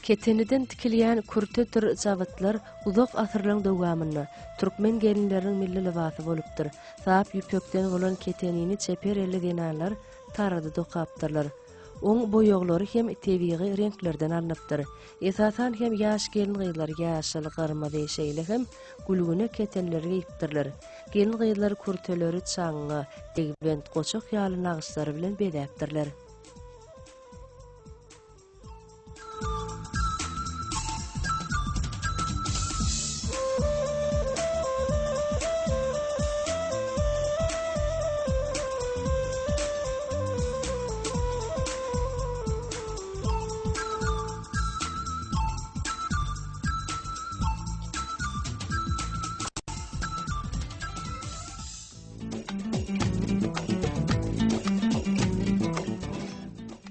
Keteniden tikilýän kürtedir jabytlar uzak asyrlaryň dowamynda türkmen gelinleriniň milli lybasy bolupdyr. Sap ýüpekden bolan ketenini çeper elli zenanlar tarada dokapdyrlar. Oň boýaglary hem tebigy reňklerden alnypdyr. Esasan hem ýaş gelin-gyzlar ýaşyl, gyrmyzy, şeýle hem gülgüne ketenleri geýipdirler. Gelin-gyzlar kürteleri çaňňa, degbent, goçak ýaly nagyşlar bilen bezäpdirler.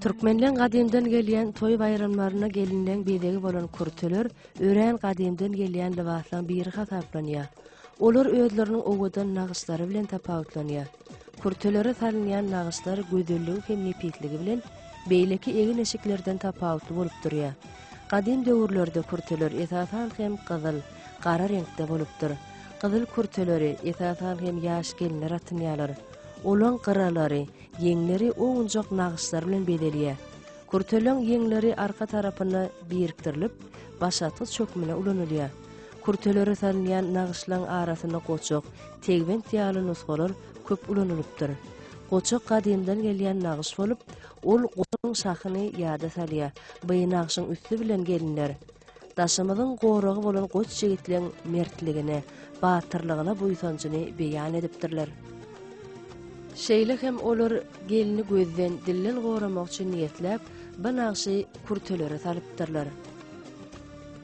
Türkmenleň gadymdan gelýän toý baýramlaryna gelinleň bezegi bolan kürteler örän gadymdan gelýän lybaslaryň biri hasaplanýar. Olar özleriniň owadan nagyşlary bilen tapawutlanýar. Kürtelere salynýan nagyşlar gözelligi hem nepisligi bilen beýleki egin-eşiklerden tapawutly bolup durýar. Gadym döwürlerde kürteler esasan hem gyzyl, gara reňkde bolupdyr. Gyzyl kürteleri, esasan hem ýaş gelinler atynýarlar. Olaň gyralary, ýeňleri owunjak nagyşlar bilen bezelýär. Kürteleň ýeňleri arka tarapyna birikdirilip, başatgyç hökmünde ulanylýar. Kürtelere salynýan nagyşlaň arasynda goçak, tegbent ýaly nusgalar köp ulanylypdyr. Goçak gadymdan gelýän nagyş bolup, ol goçagyň şahyny ýada salýar, by nagşyň üsti bilen gelinler Daşymyzyň goragy bolan goç ýigitleň mertligine, batyrlygyna buýsanjyny beýan edipdirler. Şeýle hem olar gelni gözden, dilden goramak üçin niýetläp, by nagşy kürtelere salypdyrlar.